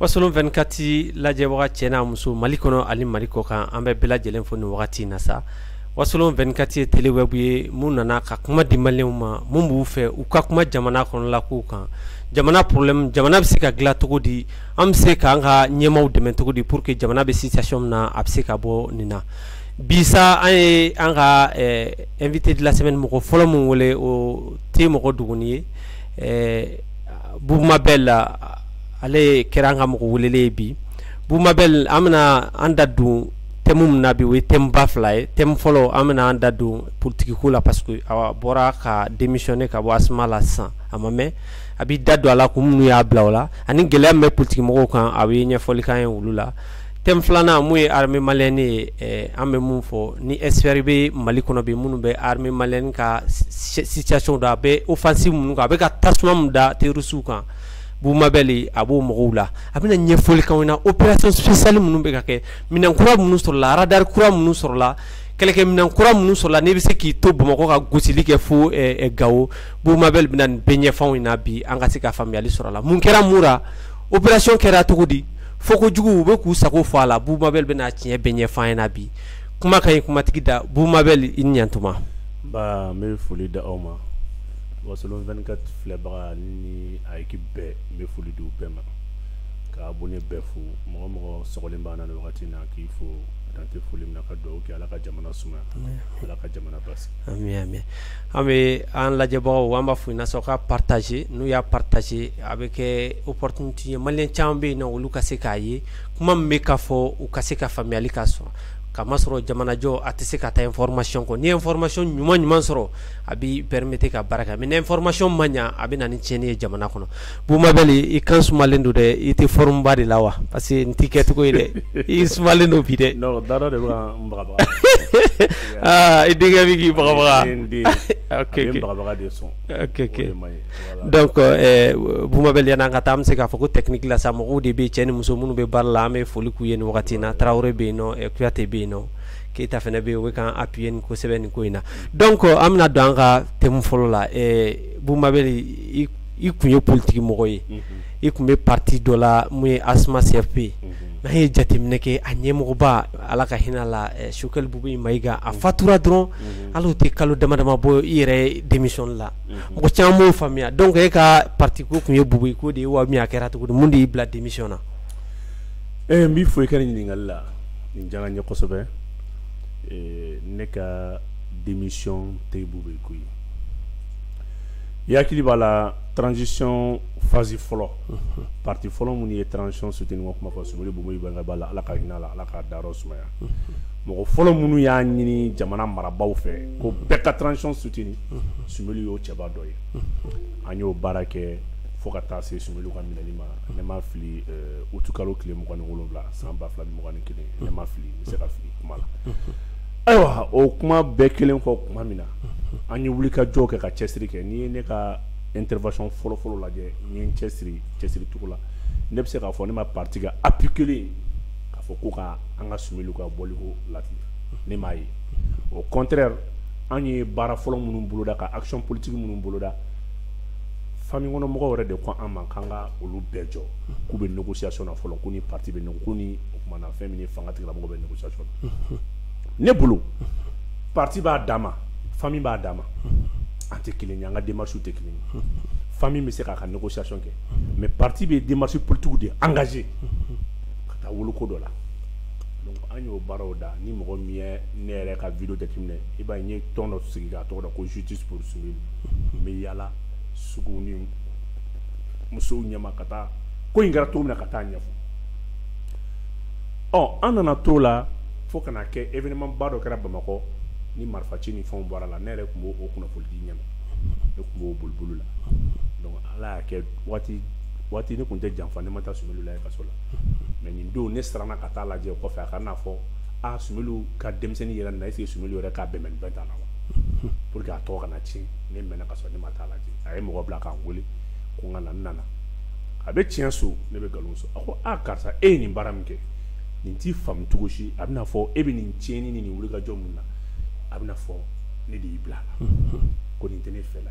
Wasolon vingt-quatre lajɛbaga cɛ n'a muso mali kɔnɔ ani mali kɔ kan an bɛ bɛɛ lajɛlen fo nin wagati in na sa wasolon vingt-quatre ye télé web ye mun nana ka kuma di maliyɛnw ma minnu b'u fɛ u ka kuma jamana kɔnɔla kow kan jamana problème jamana bɛ se ka dilan cogo di an bɛ se k'an ka ɲɛmaaw dɛmɛ cogo di pour que jamana bɛ situation min na a bɛ se ka bɔ nin na bisa an ye an ka invité de la semaine mɔgɔ fɔlɔ min wele o tɛ mɔgɔ duguni ye Bubu Mabel ale kɛra an ka mɔgɔ welelen ye bi Bubu Mabel an bɛna an da don thème min na bi o ye thème ba fila ye thème fɔlɔ an bɛna an da don politikiko la parce que a bɔra ka démissionner ka bɔ Asma la sisan a ma mɛn a b'i da don a la kun minnu y'a bila o la ani gɛlɛya min bɛ politikimɔgɔw kan a bɛ ɲɛfɔli k'an ye olu la thème filanan mun ye armée malienne ye an bɛ min fɔ ni expert bɛ mali kɔnɔ bi minnu bɛ armée malienne ka situation dɔn a bɛ offensive minnu kan a bɛ ka tasuma min da terroristew kan Bubu Mabel a b'o mɔgɔw la a bɛna ɲɛfɔli k'anw na opération spéciale minnu bɛ ka kɛ minɛn kura minnu sɔrɔla aradari kura minnu sɔrɔla kɛlɛkɛminɛn kura minnu sɔrɔla n'i bɛ se k'i to bamakɔ ka gosili kɛ fo gawo Bubu Mabel bɛna nin bɛɛ ɲɛfɔ anw ɲɛna bi an ka se ka faamuyali sɔrɔ a la mun kɛra mun na opération kɛra cogo di fo ko juguw bɛ k'u sago fɔ a la Bubu Mabel bɛna tiɲɛ bɛɛ ɲɛfɔ an ɲɛna bi kuma ka ɲi kumatigi da Bubu Mabel i ni ɲɛtuma ba n bɛ foli da aw ma wasolon vingt-quatre filɛbaga ni a équipe bɛɛ n bɛ foli di u bɛɛ ma ka abonné bɛɛ fo mɔgɔ mɔgɔ sogolen b'an na nin wagati na k'i fo dan tɛ foli min na ka dugawu kɛ ala ka jamana suma ala ka jamana basi an bɛ an lajɛbagaw an b'a fɔ i na sɔn ka partager n'u y'a partager a bɛ kɛ opportunité ye maliyɛn caman bɛ yen na olu ka se k'a ye kuma min bɛ ka fɔ u ka se ka faamuyali ka sɔrɔ kamasɔrɔ jamanajɔ a tɛ se ka taa information kɔ n'i ye information ɲuman ɲuman sɔrɔ a b'i permettre ka baara kɛ mais ni information ma ɲɛ a bɛ na ni tiɲɛni ye jamana kɔnɔ Bba i kan sumalen don dɛ i tɛ fba de la wa parce que n tɛ kɛcogo ye dɛ i sumalen don bi dɛ i denkɛ k'i bba n' ka taa bɛ se k'a fɔ ko tɛkila sa mɔgɔw de bɛ cɛ ni muso minnu bɛ baara la an bɛ foli k'u ye nin wagati na tarawele bɛ yen kuyate bɛ yen keyita fana bɛ yen kan apye ni kosɛbɛ nin ko in na dɔn kɔ an bɛna don an ka te fɔlɔ la bba i tun ye politikimɔgɔ ye i tun bɛ parti dɔ la min ye Asma CFP ye n'an ye jateminɛ kɛ a ɲɛmɔgɔba ala ka hinɛ a la Sumeyilu Bubɛyi Mayiga a fatura dɔrɔn hali o tɛ kalo dama dama bɔ i yɛrɛ démissionner la mɔgɔ caman m'o faamuya donc e ka parti ko tun ye Bubɛyi ko de ye wa min a kɛra cogo di mun de y'i bila démission na e n b'i fo i ka ɲininkali la nin diyara n ye kosɛbɛ ne ka démission tɛ Bubɛyi ko ye I hakili b'a la transition phase fɔlɔ parti fɔlɔ minnu ye transition soutenir ma kuma fɔ Sumeyilu Bubɛyi b'a la ala ka hinɛ a la ala ka dayɔrɔ sumaya mɔgɔ fɔlɔ minnu y'a ɲini jamana marabagaw fɛ ko bɛɛ ka transition soutenir Sumeyilu y'o cɛba dɔ ye an y'o baara kɛ fo ka taa se Sumeyilu ka minɛli ma ne ma fili uti kalo tile mugan ni wolowula san ba fila ni mugan ni kelen ne ma fili n bɛ se ka fili kuma la Ayiwa o kuma bɛɛ kelen kɔ tuma min na an ye wuli ka jɔ kɛ ka cɛsiri kɛ n'i ye ne ka intervention fɔlɔfɔlɔ lajɛ n ye n cɛsiri cɛsiricogo la ne bɛ se k'a fɔ ne ma parti ka appui kelen k'a fɔ ko ka an ka Sumeyilu ka bɔliko la ne m'a ye au contraire an ye baara fɔlɔ minnu boloda ka action politique minnu boloda famille kɔnɔ mɔgɔw yɛrɛ de ko an ma k'an ka olu bɛɛ jɔ k'u bɛ négociation na fɔlɔ ko ni parti bɛ o kumana fɛn min fanga tigilamɔgɔw bɛ négociation na ne bolo parti b'a dama famille b'a dama an tɛ kelen ye an ka démarches tɛ kelen ye famille bɛ se k'a ka négociation kɛ mais parti bɛ démarche politique de engager ka taa wolo ko dɔ la an y'o baaraw da ni mɔgɔ min ye ne yɛrɛ ka vidéo jateminɛ i b'a ye n ye tɔn dɔ sigi k'a tɔgɔ da ko justice pour Sumeyilu n bɛ yaala sugu ni musow ɲɛma ka taa ko in kɛra cogo min na ka taa ɲɛfɔ ɔ an nana t'o la fo ka na kɛ événement ba dɔ kɛra Bamakɔ ni marifa ci ni fɛnw bɔra la ne yɛrɛ tun b'o kunnafoni di ɲɛma ne tun b'o boli boli la donc Ala y'a kɛ waati waati ne tun tɛ janfa ne ma taa Sumeyilu lajɛ kaso la mais nin don ne siranna ka taa lajɛ o kɔfɛ a kana fɔ aa Sumeyilu ka denmisɛnnin yera nin na est ce que Sumeyilu yɛrɛ k'a bɛnbɛn bɛɛ t'a la wa pour que a tɔgɔ kana tiɲɛ ne mɛnna ka sɔrɔ ne ma taa lajɛ a ye mɔgɔ bila ka n wele ko n ka na n nana a bɛ tiɲɛ so ne bɛ nkalon so a ko aa karisa e ye nin baara min kɛ ne t'i faamu cogo si a bɛna fɔ e bɛ nin tiɲɛni ni nin wulikajɔ min na a bɛna fɔ ne de y'i bila a la ko nin tɛ ne fɛla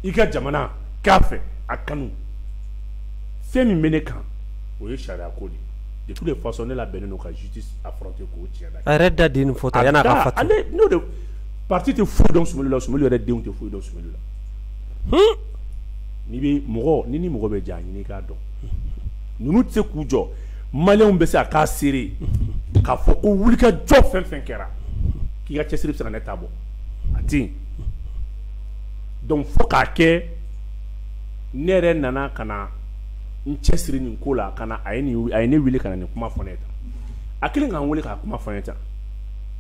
ye i ka jamana k'a fɛ a kanu fɛn min bɛ ne kan o ye sariya ko de ye de toutes les façons ne labɛnnen don ka justice affronter k'o tiɲɛ na a yɛrɛ da de ye nin fɔ tan yan'a ka fatu ale n'o de parti tɛ foyi dɔn Sumeyilu la Sumeyilu yɛrɛ denw tɛ foyi dɔn Sumeyilu la n'i bɛ mɔgɔ ni ni mɔgɔ bɛ jan ɲini k'a dɔn ninnu tɛ se k'u jɔ maliyɛnw bɛ se a k'a seere k'a fɔ ko wuli ka jɔ fɛn fɛn kɛra k'i ka cɛsiri bɛ se ka ne ta bɔ a tɛ yen donc fo k'a kɛ ne yɛrɛ nana ka na n cɛsiri nin ko la ka a ye a ye ne wele ka na nin kuma fɔ ne ye tan a kelen ka n weele k'a kuma fɔ ne ye tan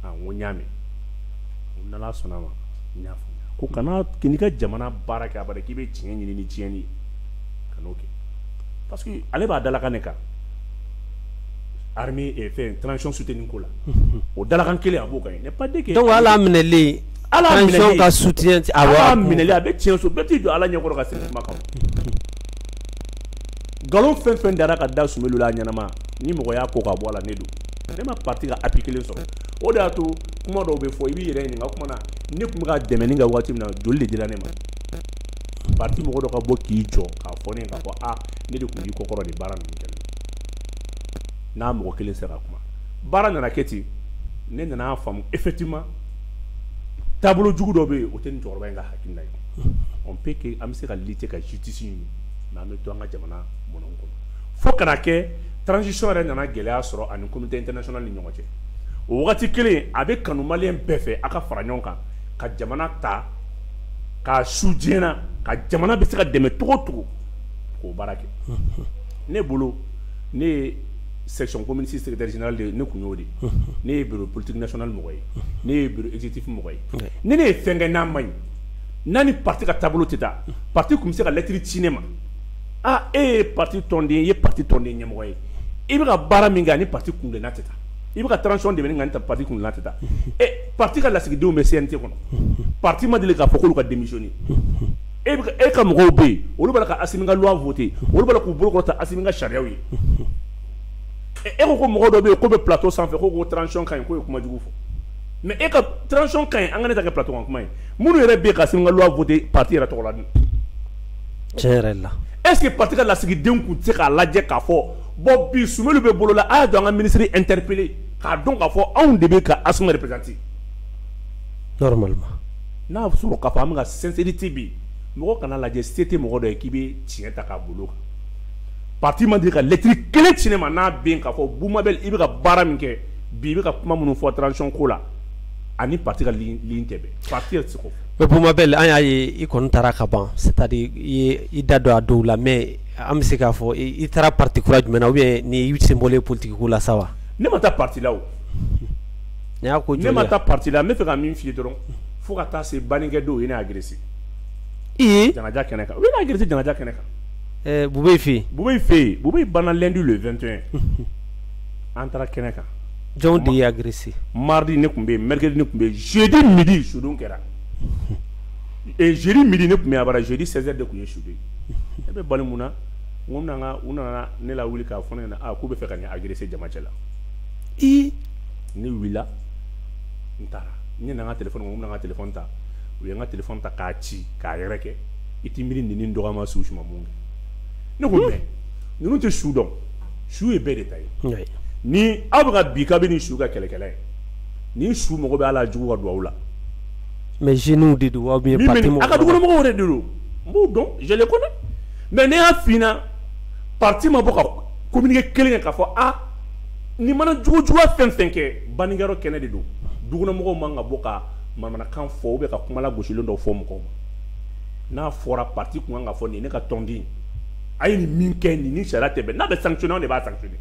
n ko n y'a mɛn n'Ala sɔnna a ma n y'a fɔ ko kana k'i ka jamana baara kɛ a k'i bɛ tiɲɛ ɲini ni tiɲɛni ye kan'o kɛ parce que ale b'a dalakan min kan fɛn transition soutenue ko la o dalakan kelen a b'o kan ye n'est pas dit que donc hali a minɛlen hali a minɛlen transition ka soutien tɛ awɔ hali a minɛlen a bɛ tiɲɛ so bɛɛ t'i jɔ Ala ɲɛkɔrɔ ka segin kuma kan nkalon fɛn o fɛn dara ka da Soumeylou la a ɲɛnama ni mɔgɔ y'a ko ka bɔ a la ne don ne ma parti ka appui kelen sɔrɔ o de y'a to kuma dɔw bɛ fɔ i b'i yɛrɛ ɲininka o tuma na ne tun bɛ ka dɛmɛni kɛ waati min na joli de dira ne ma parti mɔgɔ dɔ ka bɔ k'i jɔ k'a fɔ ne ye k'a fɔ a ne de tun b'i kɔkɔrɔ nin baara ninnu kɛli la n'a mɔgɔ kelen sera ka kuma baara nana kɛ ten ne nana faamu effectivement taabolo jugu dɔ bɛ yen o tɛ nin cɛkɔrɔba in ka hakilina ye on peut que an bɛ se ka lutter ka justice ɲini mais an bɛ to an ka jamana mɔnɔn kɔnɔ fo kana kɛ transition yɛrɛ nana gɛlɛya sɔrɔ ani communauté internationale ni ɲɔgɔn cɛ o waati kelen a bɛ kanu maliyɛn bɛɛ fɛ a ka fara ɲɔgɔn kan ka jamana ta k'a su diɲɛ na ka jamana bɛ se ka dɛmɛ cogo o cogo k'o baara kɛ ne bolo ne ye section commune six secrétaire général de ne tun y'o de ne ye bureau politique national mɔgɔ ye ne ye bureau exécutif mɔgɔ ye ni ne ye fɛn kɛ n'a man ɲi n'a ni parti ka taabolo tɛ taa parti tun bɛ se ka lɛtiri ci ne ma aa e ye parti tɔnden ye i ye parti tɔnden ɲɛmɔgɔ ye i bɛ ka baara min kɛ a ni parti kuntilenna tɛ taa i bɛ ka transition dɛmɛni kɛ a ni parti kuntilenna tɛ taa ɛ parti ka lasigidenw bɛ CNT kɔnɔ parti ma deli k'a fɔ k'olu ka démissionner e bɛ ka e ka mɔgɔw bɛ yen olu b'a la ka Assimi ka loi voter olu b'a la k'u bolo kɔrɔta Assimi ka sariyaw ye ɛ e ko ko mɔgɔ dɔ bɛ yen k'o bɛ plateau sanfɛ k'o ko transition ka ɲi k'o ye kuma jugu fɔ mais e ka transition ka ɲi an ka ne ta kɛ plateau kan kuma ye minnu yɛrɛ bɛ yen ka Assimi ka loi voter parti yɛrɛ tɔgɔ la dun est-ce que parti ka lasigidenw tun tɛ se k'a lajɛ k'a fɔ bon bi Soumeylou bɛ bolo la a y'a to an ka ministre interpeller k'a dɔn k'a fɔ anw de bɛ ka ASMA représenter normalement n'a sɔrɔ k'a fɔ an bɛ ka sincérité bi mɔgɔ kan'a lajɛ se tɛ mɔgɔ dɔ ye k'i bɛ tiɲɛ ta k'a bolo kan parti ma deli ka lɛtiri kelen ci ne ma n'a bɛ yen k'a fɔ Boubou Mabel i bɛ ka baara min kɛ bi i bɛ ka kuma minnu fɔ transition ko la a ni parti ka ligne tɛ bɛn parti yɛrɛ tɛ se Boubou Mabel an y'a ye i kɔni taara ka ban c'est-à-dire i da don a dɔw la mais an bɛ se k'a fɔ i taara parti kura jumɛn na ou bien i sen bɔlen politique ko la sa wa ne ma taa parti la ko ne ma taa parti la n bɛ fɛ ka min f'i ye dɔrɔn fo ka taa se banni kɛ don u ye ne agressé janaja kɛnɛ kan u ye ne agressé janaja kɛnɛ kan Boubèye fɛ yen Boubèye fɛ yen Boubèye banna lundi le 21 an taara kɛnɛ kan jɔn de ye agressé mardi ne tun bɛ yen mercredi ne tun bɛ yen jeudi midi sudon kɛra ee jeudi midi ne tun bɛ yen abada jeudi 16 heures de tun ye sudon ye ne bɛ bali mun na n ko n bɛna n ka u nana ne lawuli k'a fɔ ne ɲɛna aa k'u b'a fɛ ka ne agresser jama cɛla i ne wulila n taara n ɲinɛna n ka telefɔni kɔ n bɛna n ka telefɔni ta u ye n ka telefɔni ta k'a ci k'a yɛrɛkɛ i t'i miiri nin ni n dɔgɔyama su suma mun kɛ ne ko mais ninnu tɛ su dɔn su ye bɛɛ de ta ye ni aw bɛ ka bi kabini ni su ka kɛlɛkɛla ye ni su mago bɛ aw la jugu ka don aw la mais jeunes de don aw bɛ ka dugukɔnɔmɔgɔw de don n b'u dɔn je les connais mais ne y'a f'i ɲɛna parti ma bɔ ka communiqué kelen kɛ k'a fɔ a ni mana jugujuguya fɛn fɛn kɛ bannikɛyɔrɔ kɛnɛ de don dugukɔnɔmɔgɔw man ka bɔ ka manamanakan fɔ ou bien ka kuma lagosilen dɔ fɔ mɔgɔw ma n'a fɔra parti tun kan ka fɔ nin ne ka tɔnden a ye nin min kɛ nin ni sariya tɛ bɛn n'a bɛ sanctionner anw de b'a sanctionner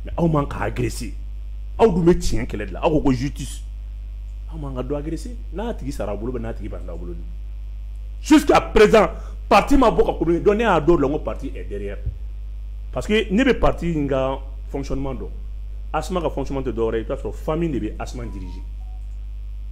mais aw man ka agresser aw dun bɛ tiɲɛ kɛlɛ de la aw ko ko justice aw man ka dɔ agresser n'a tigi sara aw bolo bɛ n'a tigi banna aw bolo ni jusqu'à présent parti ma bɔ ka communiquer donc ne y'a dɔn o la n ko parti est derrière parce que ne bɛ parti in ka fonctionnement dɔn ASMA ka fonctionnement tɛ dɔwɛrɛ ye i bɛ t'a sɔrɔ famille de bɛ ASMA diriger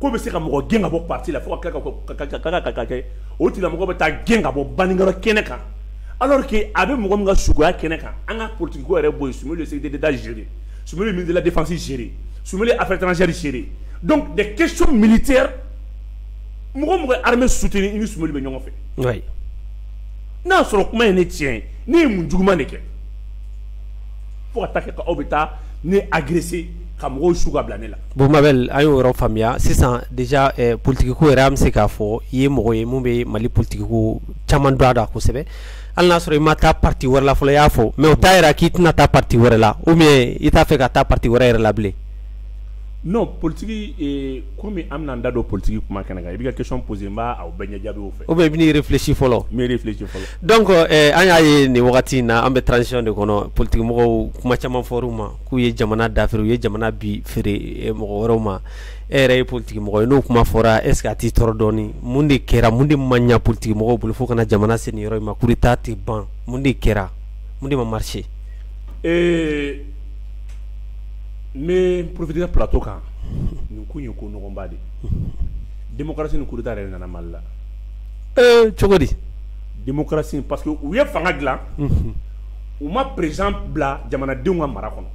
ko bɛ se ka mɔgɔ gɛn ka bɔ parti la fo ka tila ka ka kɛ o tigilamɔgɔ bɛ taa gɛn ka bɔ baninkɔrɔ kɛnɛ kan alors que a bɛ mɔgɔ min ka saya kɛnɛ kan an ka politique ko yɛrɛ bɔ yen Soumeylou ye sécurité d'Etat gérer Soumeylou ye ministre de la défense gérer Soumeylou ye affaires étrangères gérer donc des questions militaires mɔgɔ o mɔgɔ ye armée soutenir i ni Soumeylou bɛ ɲɔgɔn fɛ oui n'a y'a sɔrɔ kuma ye ne tiɲɛ ye ne ye mun juguman de kɛ fo ka taa kɛ aw bɛ taa ne agresser ka mɔgɔw su ka bila ne la Bon Mabel an y'o yɔrɔ faamuya sisan déjà ɛ politique ko yɛrɛ an bɛ se k'a fɔ i ye mɔgɔ ye min bɛ Mali politique ko caman dɔn a la kosɛbɛ hali n'a sɔrɔ i ma taa parti wɛrɛ la fɔlɔ i y'a fɔ mais o t'a yira k'i tɛna taa parti wɛrɛ la ou bien i t'a fɛ ka taa parti wɛrɛ yɛrɛ la bilen. Non politique ee komi an bɛna an da don politique kuma kɛnɛ kan i b'i ka question poser n b'a o bɛɛ ɲɛ jaabi o fɛ. Ou bien i bɛ n'i réfléchi fɔlɔ. N bɛ réfléchi fɔlɔ. Donc ɛ an y'a ye nin wagati in na an bɛ transition de kɔnɔ politique mɔgɔw kuma caman fɔr'u ma. k'u ye jamana dafiri u ye jamana bi feere eh, mɔgɔ wɛrɛw ma e yɛrɛ ye politiki mɔgɔ ye n'o kuma fɔra est ce que a t'i tɔɔrɔ dɔɔni mun de kɛra mun de ma ɲa politiki mɔgɔw bolo fo ka na jamana se nin yɔrɔ in ma coup d'état tɛ ban mun de kɛra mun de ma marché ee n bɛ profiter plateau kan nin ko in ye ko nɔgɔnba de ye démocratie ni coup d'état yɛrɛ de nana Mali la ee cogo di démocratie parce que u ye fanga dilan u ma président bila jamanadenw ka mara kɔnɔ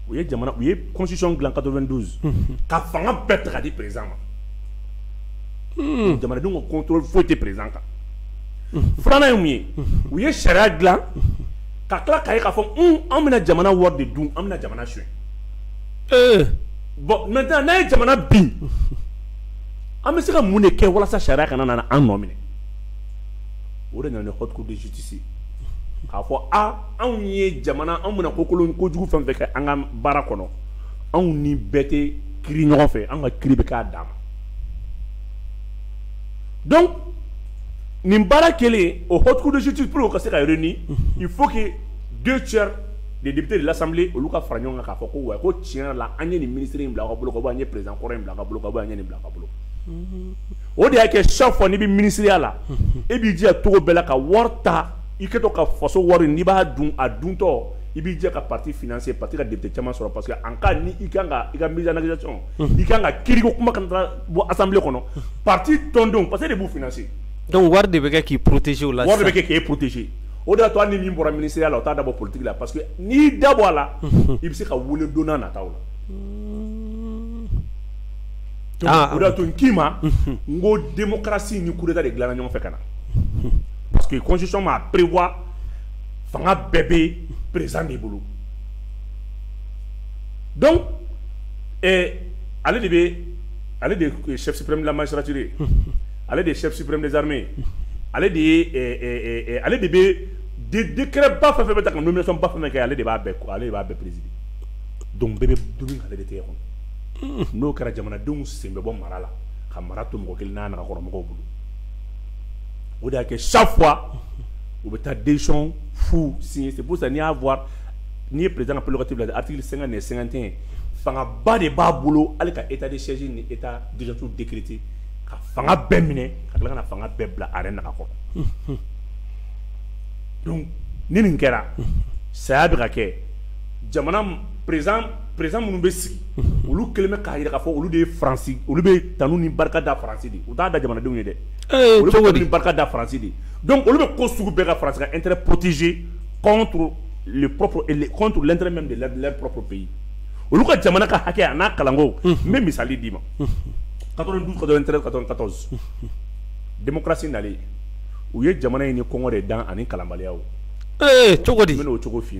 u ye u ye constitution dilan 92 ka fanga bɛɛ ta ka di président ma jamanadenw ka contrôle foyi tɛ président kan filanan ye mun ye u ye sariya dilan ka tila k'a ye k'a fɔ an bɛna jamana wari de dun an bɛna jamana sonya bon maintenant n'a ye jamana bin an bɛ se ka mun de kɛ walasa sariya kana na an nɔ minɛ o de nana haute cour de justice k'a fɔ aa anw ye jamana anw bɛna kokolon kojugu fɛn fɛn kɛ an ka baara kɔnɔ anw ni bɛɛ tɛ kiri ɲɔgɔn fɛ an ka kiri bɛ k'a dan ma donc nin baara kɛlen o haute cour de justice pour ka se ka réunir il faut que deux tiers des députés de l'Assemblée olu ka fara ɲɔgɔn kan k'a fɔ ko wa ko tiɲɛ la an ye nin minisiri in bila ka bolo an ye président kɔrɔ in bila ka bolo an ye nin bila ka bolo o de y'a kɛ chaque fois n'i bɛ minisiriya la e b'i jija cogo bɛɛ la ka wari ta i kɛtɔ ka faso wari n'i b'a dun a duntɔ i b'i jija ka parti financer parti ka député caman sɔrɔ parce que en cas ni i ka i ka mise en accusation i kan ka kiriko kuma ka taa bɔ assemblée kɔnɔ parti tɔndenw parce que e de b'u financer donc wari de bɛ kɛ k'i protéger o la wari bɛ k'e protéger o de y'a to ni min bɔra minisiriya la o t'a da bɔ politique la parce que n'i da bɔ a la i bɛ se ka weele don nata la Ah, ah. tun k'i ma n ko denkarasi ni kuruda de dilanna ɲɔgɔn fɛ ka na parce que kɔnsiɔn ma perewa fanga bɛɛ bɛ perez de bolo dɔn ale de bɛ ale de sɛbɛnpremlamasiraci ye ale de ye sɛbɛnpremdzme ye ale de ye ale de bɛ dikɛ ba fɛ bɛ ta ka ba fana kɛ ale de b'a ale de b'a bɛɛ perezdi dɔn bɛɛ bɛ du ale de tɛ kɔnɔ n'o kɛra jamanadenw sen bɛ bɔ mara la ka mara to mɔgɔ kelen n'a nagakɔrɔmɔgɔw bolo o de y'a kɛ chaque fois u bɛ taa décision fu signer c'est pour ça n'i y'a voir n'i ye président ka prerogative lajɛ article 50 ni 51 fangaba de b'a bolo hali ka état de siège ni état d'urgence décréter ka fanga bɛɛ minɛ ka tila ka na fanga bɛɛ bila a yɛrɛ naga kɔrɔ donc ni nin kɛra saya bɛ ka kɛ jamana président minnu bɛ sigi olu kɛlen bɛ k'a jira k'a fɔ olu de ye olu bɛ tanu ni barika da faransi u t'a da jamanadenw ye dɛ olu barika da faransi de olu bɛ ko sugu bɛɛ ka faransi ka intérêt protéger contre l'intérêt même de leur propre pays olu ka jamana ka hakɛ a n'a kalanko n bɛ misali d'i ma 92 93 94 démocratie nalen u ye jamana in ni kɔngɔ de dan ani kalanbaliya cogo di n bɛn'o cogo f'i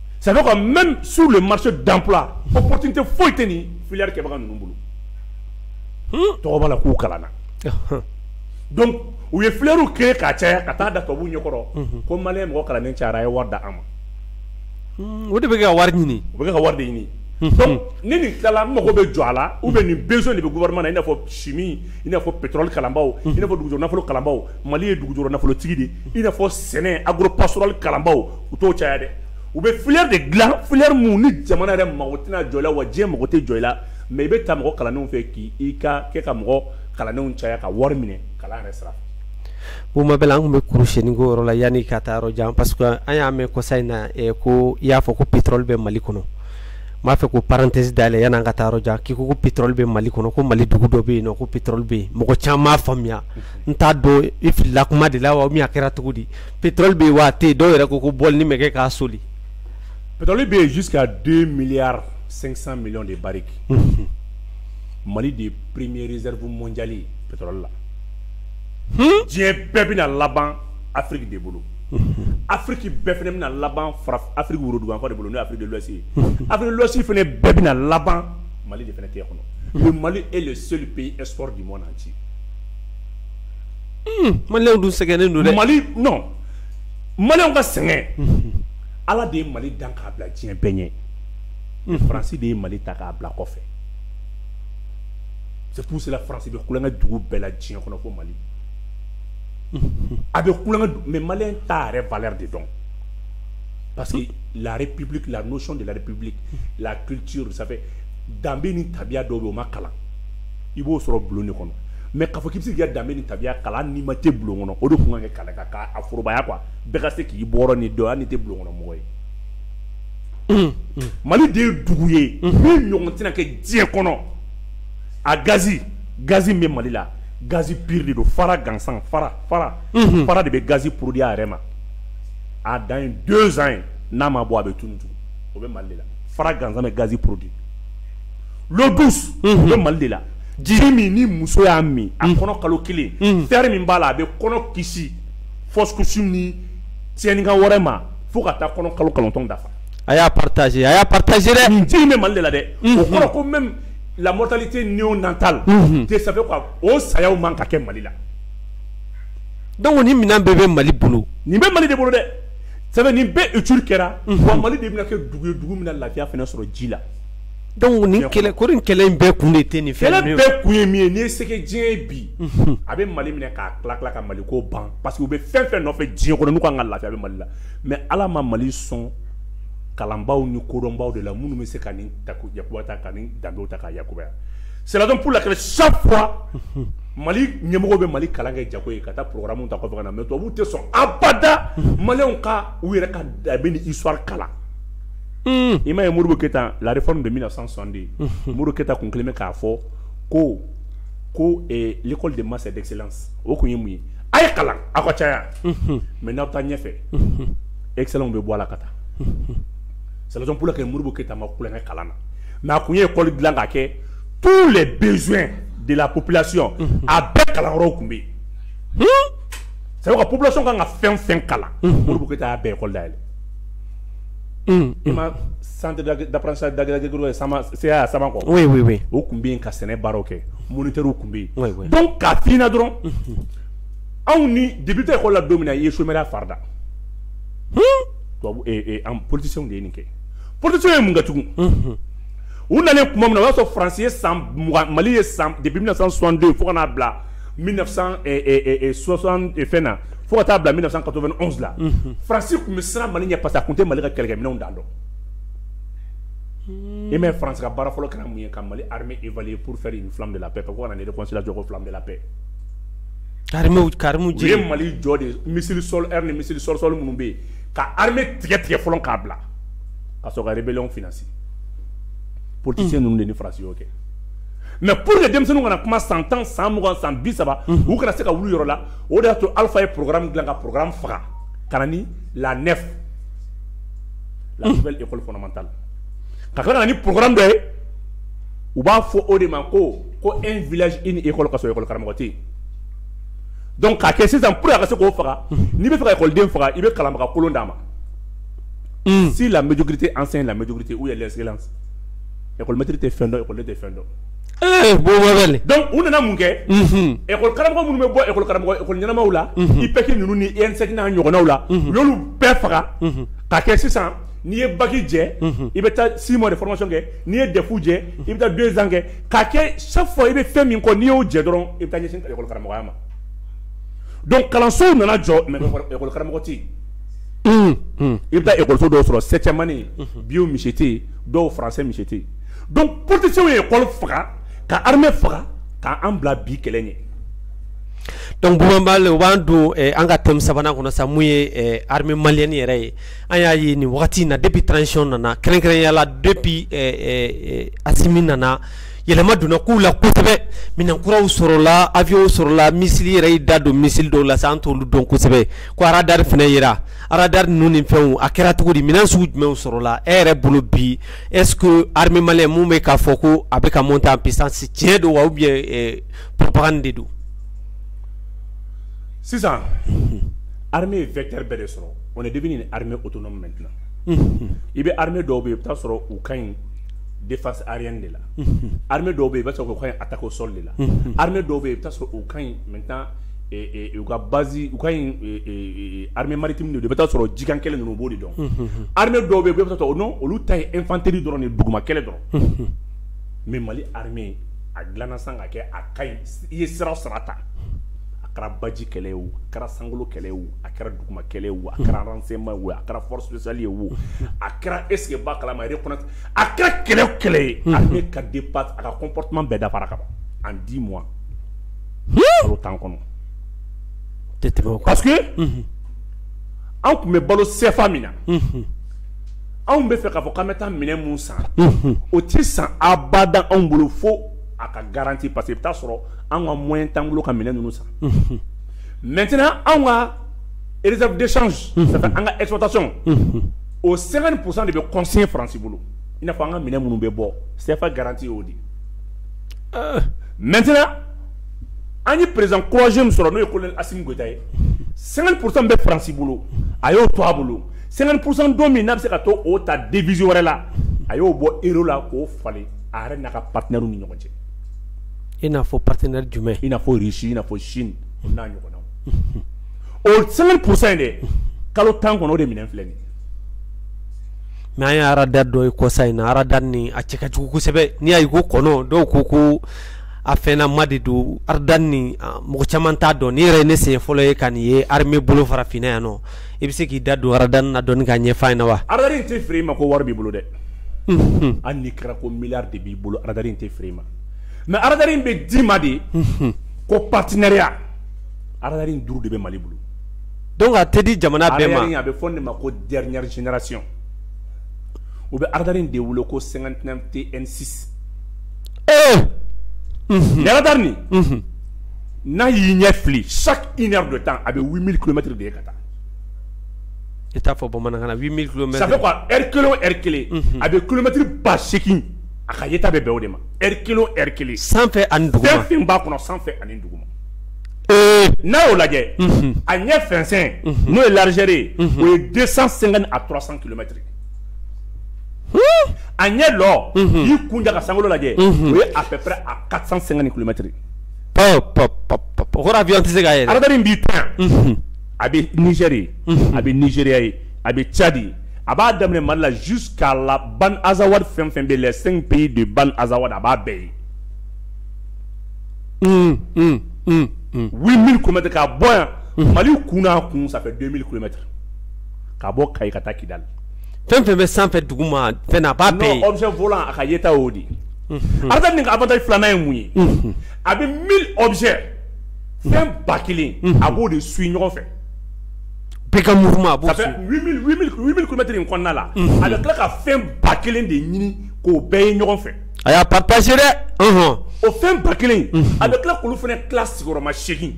ça veut dire même sur le marché d'emploi opportunité foyi tɛ nin filière kɛbaga ninnu bolo hmm? tɔgɔ b'a la k'u kalanna donc u ye filièrew créer k'a caya ka taa da tubabuw ɲɛkɔrɔ mhm. ko maliyɛn mɔgɔ kalannen cayara a ye wari di an ma hmm, o de bɛ kɛ ka wari ɲini o bɛ kɛ ka wari de ɲini hmm, donc ni nin tilala n mago bɛ jɔ a la ou bien nin besoin de bɛ gouvernement na i n'a fɔ chimie i n'a fɔ pétrole kalanbaaw i n'a fɔ dugujukɔrɔ nafolo kalanbaaw Mali ye dugujukɔrɔ nafolotigi de i n'a fɔ sɛnɛ agro pastoral kalanbaaw u t'o caya dɛ u bɛ filière de dilan filière min ni jamana yɛrɛ mago tɛna jɔ i la wa diɲɛ mago tɛ jɔ i la mais i bɛ taa mɔgɔ kalannenw fɛ k' i ka kɛ ka mɔgɔ kalannenw caya ka wari minɛ kalan yɛrɛ sira fɛ Boubou Mabel an tun bɛ kurusennin ko yɔrɔ la yanni ka taa yɔrɔ jan parce que an y'a mɛn kɔsa in na ko i y'a fɔ ko pétrole bɛ mali kɔnɔ n b'a fɛ ka parenthèse dayɛlɛ yanni an ka taa yɔrɔ jan k'i ko pétrole bɛ mali kɔnɔ ko mali dugu dɔ bɛ yen ko pétrole bɛ yen mɔgɔ caman m'a faamuya n t'a dɔn i filila kuma de la wa min a kɛra cogo di Pétrole bɛ yen wa a tɛ yen dɔw yɛrɛ ko ko bɔlinin bɛ kɛ k'a soli. Pétrole bɛ yen jusqu'à 2 milliards 500 millions de barriques unhun, Mali de ye premier réserve mondiale ye pétrole la, hun, diɲɛ bɛɛ bɛna laban Afrique de bolo, unhun, Afrique bɛɛ fana bɛna laban fara Afrique woroduguyanfan de bolo n'o ye Afrique de l'Ouest ye, unhun, Afrique de l'Ouest fana bɛɛ bɛna laban Mali de fana tɛgɛ kɔnɔ, le Mali est le seul pays export du monde entier dun sɛgɛnnen don mali maliyɛnw ka sɛgɛn ala de ye mali dan k'a bila diɲɛ bɛɛ ɲɛ France de ye mali ta k'a bila kɔfɛ c'est pour cela France bɛ kulo kɛ dugu bɛɛ la diɲɛ kɔnɔ fo mali a bɛ kulo mais maliyɛn t'a yɛrɛ valeur de dɔn parce que la république la notion de la république la culture ça fait danbe ni tabiya dɔ bɛ o ma kalan i b'o sɔrɔ bulon de kɔnɔ mais k'a fɔ k'i bɛ se k'i ka danbe ni tabiya kalan n'i ma tɛ bulon kɔnɔ o de tun ka kɛ kalan k'a forobaya quoi bɛɛ ka se k'i bɔnna dɔn hali n'i tɛ bulon kɔnɔ mɔgɔ ye mm, mm. mali de ye dugu ye mm. min ɲɔgɔn tɛna kɛ diɲɛ kɔnɔ a gazi gazi min bɛ mali la gazi pur de don fara gansan fara fara mm-hmm. fara de bɛ gazi produit a yɛrɛ ma a dan ye deux ans ye n'a ma bɔ a bɛ tunu tugun o bɛ mali de la fara gansan bɛ gazi produit bɛ mali de la ji min ni muso y'a min a kɔnɔ kalo kelen fer min b'a la a bɛ kɔnɔ kisi fɔsi ni cɛinka wɛrɛ ma fo ka taa kɔnɔ kalo kɔnɔntɔn dafa a y'a partagé a y'a partagé ji bɛ mali la dɛ o kɔrɔ ko même la mortalité néonatale ça fait o saya man ka kɛ mali la donc nin minɛn bɛɛ bɛ mali bolo nin bɛ mali de bolo dɛ ça fait nin bɛɛ étude kɛra mali de bɛna kɛ dugu ye dugu min lafiya sɔrɔ ji la Donc nin ko nin kɛlɛ in bɛɛ kun de tɛ nin fɛn ninnu ye kɛlɛ bɛɛ kun ye min ye n'i ye se diɲɛ bi a bɛ mali minɛ k'a tila tila ka mali ko ban parce que u bɛ fɛn fɛn nɔfɛ diɲɛ kɔnɔ n'u ka kan ka lafiya bɛ mali la mais ala ma mali sɔn kalanbaaw ni kodɔnbaw de la minnu bɛ se ka nin ta ta ka nin danbe ta k'a yakubaya c'est la raison pour laquelle chaque fois mali ɲɛmɔgɔw bɛ mali kalan kɛ jago ye ka taa programme ta kɔfɛ ka na mais tubabuw tɛ sɔn abada maliyɛnw ka u yɛrɛ ka danbe ni histoire kalan i ma ye muru ke tan lare de bɛna na san sanden muru keta tun kelen bɛ k'a fɔ ko ko kɔli de ma dɛsɛse o tun ye mun ye a ye kalan aw ka caya mɛ n'aw taa ɲɛfɛ esa bɛ bɔ a la ka taa saololakɛ kɛ muru keta ma kukɛ kalan na mɛ a tun ye kɔli dilan ka kɛ tu de bɛ de la ko plasiyɔn a bɛɛ kalankɔrɔ tun bɛ yen sabu ka plasɔnon kan ka fɛn fɛn kalan muru ke bɛɛkɔda san dasa dagɛrɛ kɔ o tun bɛ ka sɛnɛ baaraw kɛ mori tun bɛ yen ka fna dɔrɔn anw ni dibi tɛ ko la don min i ye so farida an polisi de ye nin kɛ psi ye mun ka tugun u nana tuma min o y'a sɔrɔ faransi ye san mali ye san de bɛ na san sɔnden fo n'a bila sɔ fɛn na fo ka taa bila 1991 la faransi tun bɛ siran mali ɲɛ parce que a tun tɛ mali ka kɛlɛkɛminɛnw dan dɔn et mais faransi ka baara fɔlɔ kɛra mun ye ka mali armée évaluer pour faire une flamme de la paix ka ko ka na ni réconciliation jɔ ko flamme de la paix karimu karimu u ye mali jɔ de missile sol air ni missile sol sol minnu bɛ yen ka armée tigɛ tigɛ fɔlɔ k'a bila ka sɔrɔ ka rébellion financer politicien ninnu de ni faransi y'o kɛ mais pour que denmisɛnninw kana kuma san tan san mugan san bi saba u kana se ka wuli yɔrɔ la o de y'a to alifa ye programme dilan ka programme faga ka na ni la nef la nouvelle école fondamentale ka tila ka na ni programme dɔ ye u b'a fɔ o de ma ko ko un village une école ka sɔrɔ école karamɔgɔ tɛ yen donc k'a kɛ sisan pour que a ka se k'o faga n'i bɛ fɛ ka ekɔliden faga i bɛ kalanbaga kolon d'a ma si la médiocrité enseigne la médiocrité où est l'excellence école maître tɛ fɛn dɔn école tɛ fɛn dɔn Ee bon wɛrɛ donc u nana mun kɛ école karamɔgɔ minnu bɛ bɔ école karamɔgɔ école ɲɛnamaw la IPEG ninnu ni ENSEC n'a ɲɔgɔnnaw la u y'olu bɛɛ faga k'a kɛ sisan n'i ye bac jɛ i bɛ taa six mois de formation kɛ n'i ye DEF jɛ i bɛ taa deux ans kɛ k'a kɛ chaque fois i bɛ fɛn min kɔ n'i y'o jɛ dɔrɔn i bɛ taa ɲɛsin école karamɔgɔya ma donc kalansow nana jɔ mais école karamɔgɔ tɛ yen i bɛ taa école so dɔw sɔrɔ septième année bio monsieur tɛ yen dɔw français monsieur tɛ yen donc politiciens ye école faga ka armée faga ka an bila bi kɛlɛ ɲɛ donc Boubou Mabel o b'an don eh, an ka thème sabanan kɔnɔ sa mun ye eh, armée malienne yɛrɛ ye an y'a ye nin wagati na depuis transition nana kɛrɛnkɛrɛnya la depuis eh, eh, eh, Assimi nana yɛlɛma donna kow la kosɛbɛ minɛn kuraw sɔrɔla avion sɔrɔla misili yɛrɛ y'i da don misili dɔw la sa an t'olu dɔn kosɛbɛ ko aradari fana yera aradari ninnu ni fɛnw a kɛra cogo di minɛn sugu jumɛnw sɔrɔla e yɛrɛ bolo bi Es hamimalɛ minnu bɛ k'a fɔ ko a bɛ ka mun ta pzsi tiɲɛ don wa bɛ pan de don sisan ha ye fɛnɛrɛ bɛɛ de sɔrɔ o de bɛ hamɛ o to mɛn dila i bɛ ha dɔw bɛ yen i bɛ'a sɔrɔ u ka ɲi defa ari de la ha dɔw bɛ yen i bɛ sɔrɔ ka a ta o sɔli la ha dɔw bɛ yen i bɛ sɔrɔ u ka ɲi mɛ u ka base u ka ɲi armée maritime de don i bɛ taa sɔrɔ jikan kɛlɛ ninnu b'o de dɔn armée dɔw bɛ yen i bɛ taa sɔrɔ olu ta ye infanterie dɔrɔn nin duguma kɛlɛ dɔrɔn mais mali armée a dilanna sa k'a kɛ a ka ɲi i ye sira o sira ta a kɛra baji kɛlɛ ye o a kɛra sankolo kɛlɛ ye o a kɛra duguma kɛlɛ ye o a kɛra renseignement ye o a kɛra force spéciale ye wo a kɛra ese ba kalama a kɛra kɛlɛ o kɛlɛ ye a ka di a ka compartiment bɛɛ dafara ka ban en dix mois tan kɔnɔ parce que anw tun bɛ balo sɛfa min na anw bɛ fɛ k'a fɔ k'an bɛ taa minɛn min san o tɛ san abada anw bolo fo a ka garanti parce que i bɛ taa sɔrɔ an ka moyen t'an bolo ka minɛn ninnu san maintenant anw ka réserve de change an ka exportation o cinquante pour cent de bɛ consigner faransi bolo i n'a fɔ an ka minɛn minnu bɛ bɔ sɛfa garanti y'o de mɛt an ye perez kɔsi min sɔrɔ n'o ye ko asita ye sɛgɛn kurusan bɛ farasi bolo a y'o to a bolo sɛgɛn kurusan don min n'a bɛ se ka to o ta diz wɛrɛ la a y'o bɔ e la k'o falen a yɛrɛ n'a ka patiina ni ɲɔgɔn cɛ i n'a fɔ patiina jumɛn ia fɔsi ia fɔ sini n'a ɲɔgɔn o sɛgɛn kurusa in de kalo tan kɔnɔ o de minɛn filɛ nin mais an ye arada dɔ ye kɔsa in na arada nin a cɛ ka jugu kosɛbɛ n'i y'a ye ko kɔnɔ dɔw ko ko a fɛnnama de don arada nin mɔgɔ caman t'a dɔn nin yɛrɛ ye ne siɲɛ fɔlɔ ye ka nin ye armée bolo farafinna yan nɔ i bɛ se k'i da don arada na dɔɔni k'a ɲɛf'an ɲɛna wa arada in tɛ feere i ma ko wari b'i bolo dɛ hali n'i kɛra ko miliyari de b'i bolo arada in tɛ feere i ma mais arada in bɛ d'i ma de ko partenariat arada in duuru de bɛ mali bolo donc a tɛ di jamana bɛɛ ma, a bɛ fɔ nin de ma ko dernière génération u bɛ aradari in de wele ko 59 TN6 ee nin aradari nin mhm. n'a y'i ɲɛ fili chaque une heure de temps a bɛ 8000 kilomètres de ye ka taa i t'a fɔ bamanankan na 8000 kilomètres ça fait quoi heure kelen o heure kelen mhm. a bɛ kilomètre ba seegin a ka yeta bɛ bɛn o de ma heure kelen o heure kelen sanfɛ ani duguma fɛn fɛn b'a kɔnɔ sanfɛ ani duguma n'a y'o lajɛ a ɲɛ fɛnsɛn n'o ye larijɛre ye o ye de san sen a tora san kɛmɛmɛtiri a ɲɛ dɔ y'i kun daga san lajɛ u ye a fɛ a ka san sen ni kulomɛtiri tɛ se ka ara b'i ta a bɛri a bɛriya ye a bɛ cadi a b'a daminɛ mali la zu k'a la ban azsawari fɛn fɛn bɛ la sen pe de ban azsawada a b'a bɛɛ ye Unhun, un, un, un, 8000 kilomètres ka bɔ yan, unhun, Mali kun n'a kun ça fait 2000 kilomètres ka bɔ Kayi ka taa Kidali, fɛn o fɛn bɛ sanfɛ duguma fɛn na a b'a bɛɛ ye, non objet volant a ka yeta y'o de ye, unhun, aradari nin ka avantage filanan ye mun ye, unhun, a bɛ 1000 objets fɛn ba kelen a b'o de suit ɲɔgɔn fɛ. bɛɛ ka mouvement a b'o ça fait suit, 8000 8000 8000 kilomètres in kɔnɔna la, unhun, a bɛ tila ka fɛn ba kelen de ɲini k'o bɛɛ ye ɲɔgɔn fɛ. a y'a partager dɛ ɔhɔn o fɛn ba kelen in a bɛ tila k'olu fana tila sigiyɔrɔma seegin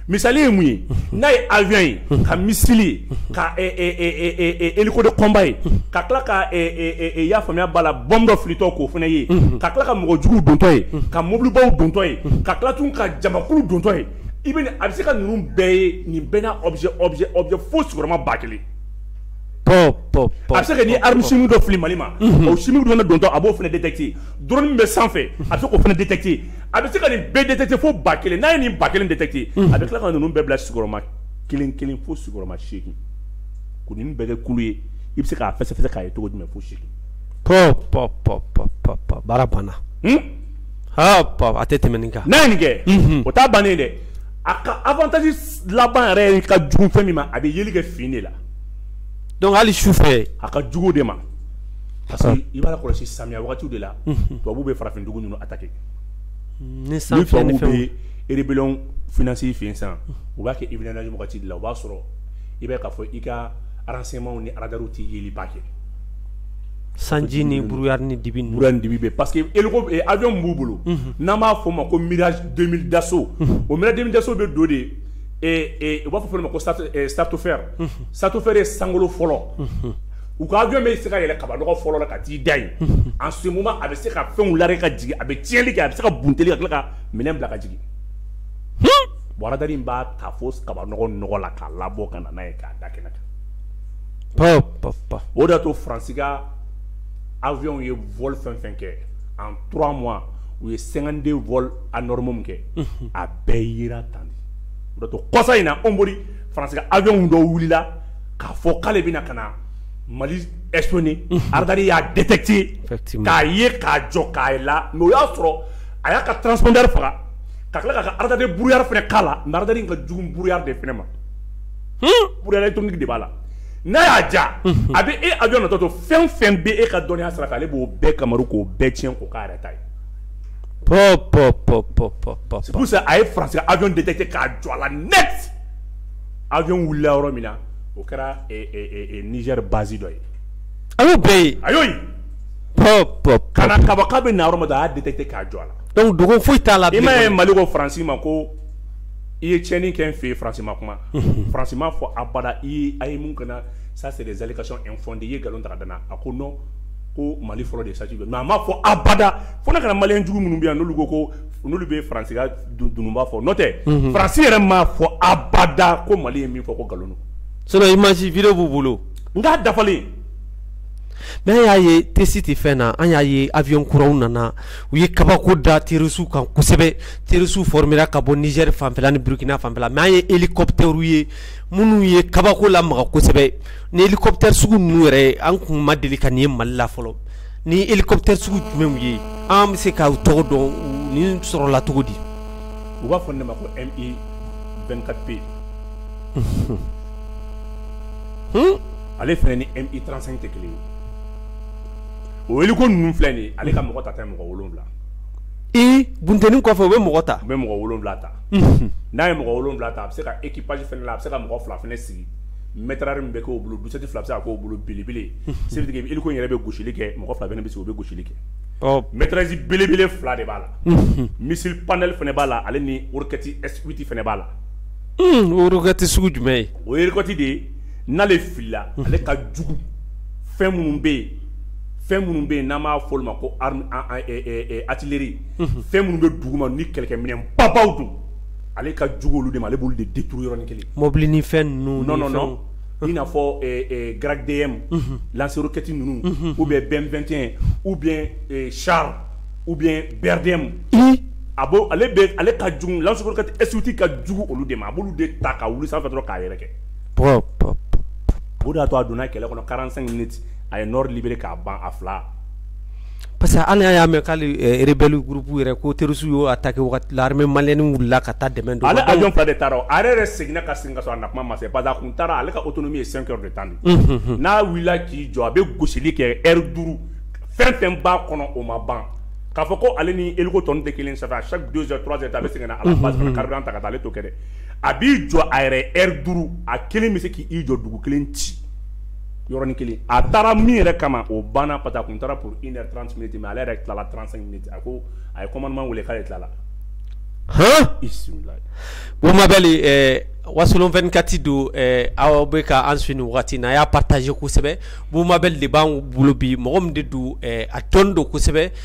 misali ye mun ye n'a ye avion ye ka missile ye ka hélico de combat ye ka tila ka i y'a faamuya b'a la bombe dɔ filitɔ k'o fana ye ka tila ka mɔgɔ juguw dontɔ ye ka mobilibaw dontɔ ye ka tila tun ka jamakulu dontɔ ye i bɛ a bɛ se ka ninnu bɛɛ ye nin bɛɛ n'a objet objet objet fo sigiyɔrɔma ba kelen a bɛ se ka ni arme chimique dɔ fili Mali ma o chimique fana dontɔ a b'o fana détecter drone min bɛ sanfɛ a bɛ se k'o fana détecter a bɛ se ka nin bɛɛ détecter fo ba kelen n'a ye nin ba kelen détecter a bɛ tila ka ninnu bɛɛ bila sigiyɔrɔma kelen kelen fo sigiyɔrɔma segin ko nin bɛɛ kɛ kulu ye i bɛ se k'a fɛsɛfɛsɛ k'a ye cogo jumɛn fo sini baara banna a tɛ tɛmɛ nin kan n'a ye nin kɛ o ta bannen dɛ a ka avantage laban yɛrɛ ka jugu fɛn min ma a bɛ yeli kɛ fin de la donc hali su fɛ a ka jugu de ma parce que i b'a kɔlɔsi samiya wagatiw de la mhm. tubabu bɛ farafin dugu ninnu attaquer mm, ni san filɛ ni fɛnw bɛ rébellion financer fin san u b'a kɛ hivernage wagati de la o b'a sɔrɔ i bɛ k'a fɔ i ka renseignements ni radars tɛ yeliba kɛ sanji ni brouillard ni dibi dibi bɛ parce que avion min b'u bolo n'a b'a fɔ o ma ko Mirage deux mille Dassault o Mirage deux mille Dassault bɛ don de ye u b'a fɔ fɛn ma ko stratosphère stratosphère ye sankolo fɔlɔ u ka avion bɛ se ka yɛlɛ kabanɔgɔ fɔlɔ la ka t'i da yen en ce moment a bɛ se ka fɛnw larguer ka jigin a bɛ tiɲɛnli kɛ a bɛ se ka bunteli ka tila ka minɛn bila ka jigin radar in b'a ta fo kabanɔgɔ la k'a labɔ ka na n'a ye k'a da kɛnɛ kan o de to faransi awyw ye vli fɛn fɛn kɛ an tora ma u ye senganden v a nɔrɔma kɛ a bɛɛ yi tan o to kɔsa in na anwri faransi awyw dɔ wulila k'a fɔ k'ale bɛna ka na mali es ara y'a dɛtɛte k'a ye k'a jɔ k'a la mɛ o y'a sɔrɔ a y'a ka tɔnda faga ka tila ka ka alad buru fana k'a la nada ka jugu buru de fana ma brouillard électronique de b'a la n'a y'a ja a bɛ e avion natɔ to fɛn fɛn bɛ e ka dɔnniya sira fɛ ale b'o bɛɛ kamaru k'o bɛɛ tiɲɛ k'o k'a yɛrɛ ta ye c'est pour ça a ye faransi ka avion détecté k'a jɔ a la net avion wulila yɔrɔ min na o kɛra nizɛri bazi dɔ ye a y'o bɛɛ ye a y'o ye kana kaba k'a bɛ na yɔrɔ min na a y'a détecté k'a jɔ a la donc dogo foyi t'a la i m'a ye mali ko faransi ma ko i ye tiɲɛni kɛ n fɛ yen France ma kuma, unhun, France m'a fɔ abada i a ye mun kɛ n na ça c'est des allégations infondées i ye nkalon ta ka da n na, a ko non ko Mali fɔlɔ de ye sati jɔ mais a m'a fɔ abada fo n'a kɛra maliyɛn jugu minnu bɛ yan n'olu ko ko n'olu bɛ France ka dununba fɔ n'o tɛ, unhun, France yɛrɛ m'a fɔ abada ko Mali ye min fɔ ko nkalon don sinon image, vidéo b'u bolo, nk'a dafalen mais an y'a ye test tɛ fɛn na an y'a ye avion kuraw nana u ye kabako da terroristew kan kosɛbɛ terroristew formera ka bɔ Niger fanfɛla ni burukina fanfɛla mais an ye hélicoptèrew ye minnu ye kabako lamaga kosɛbɛ nin hélicoptère sugu ninnu yɛrɛ an kun ma deli ka nin ye mali la fɔlɔ nin hélicoptère sugu jumɛnw ye an bɛ se k'u tɔgɔ dɔn nin sɔrɔla cogo di u b'a fɔ ne ma ko MI vingt-quatre P ale fana ni MI trente-cinq tɛ kelen ye o hélico ninnu filɛ nin ye ale ka mɔgɔ ta tɛ mɔgɔ wolowula ee bunteni kɔfɛ u bɛ mɔgɔ ta u bɛ mɔgɔ wolowula ta n'a ye mɔgɔ wolowula ta a bɛ se ka équipage fana la a bɛ se ka mɔgɔ fila fana sigi mitrailleuse min bɛ k'o bolo douze-sept fila bɛ se ka k'o bolo belebele c'est à dire hélico yɛrɛ bɛ gosili kɛ mɔgɔ fila fana bɛ sigi u bɛ gosili kɛ mitrailleuse belebele fila de b'a la missile panel fana b'a la ale ni roquette S huit fana b'a la o roquette sugu jumɛn ye o ye roquette de ye n'ale filila ale ka jugu fɛn minnu bɛ yen fɛn minnu bɛ yen n'an b'a fɔ olu ma ko artillerie fɛn minnu bɛ dugu ma ni kɛlɛkɛminɛn babaw don ale ka jugu olu de ma ale b'olu de détruire yɔrɔnin kelen mɔbili ni fɛn ninnu non i n'a fɔ Grad DM lance-roquette ninnu ou bien BM 21 ou bien char ou bien BRDM a ale ale ka jugu lance-roquette S8 ka jugu olu de ma a b'olu de ta ka wuli sanfɛ dɔrɔn k'a yɛrɛ kɛ O y'a to a donna kɛlɛ kɔnɔ kalanran a ye lib k'a ban a fila parce que ala y'a mɛn k'alerelli gurup yɛrɛ ko terisuw y'o a ta kɛremɛ malɛnni wulila ka taa dɛmɛ don ale ajɔn fa de taara a yɛrɛ seginna ka sin ka a na kuma ma se ba kun taara ale ka oto min ye san de tan n'a wulila k'i jɔ a bɛ gosisili kɛ eri duuru fɛn fɛn ba kɔnɔ o ma ban k'a fɔ ko ale ni e tɔn tɛ kelen sa a sa donur a bɛ segin kari ta ka taa ale to kɛ a b'i jɔ a yɛrɛ heure duuru a kelen bɛ se k'i jɔ dugu kelen ci yɔrɔnin kelen a taara min yɛrɛ kama o banna parce que a kun taara pour une heure trente minutes mais ale yɛrɛ tilala trente-cinq minutes a ko a ye commandement weele k'ale tilala Boubou Mabel Wasolon vingt-quatre don aw bɛ ka an suivre nin waati na a y'a partager kosɛbɛ Boubou Mabel de b'an bolo bi mɔgɔ min de don a tɔnon don kosɛbɛ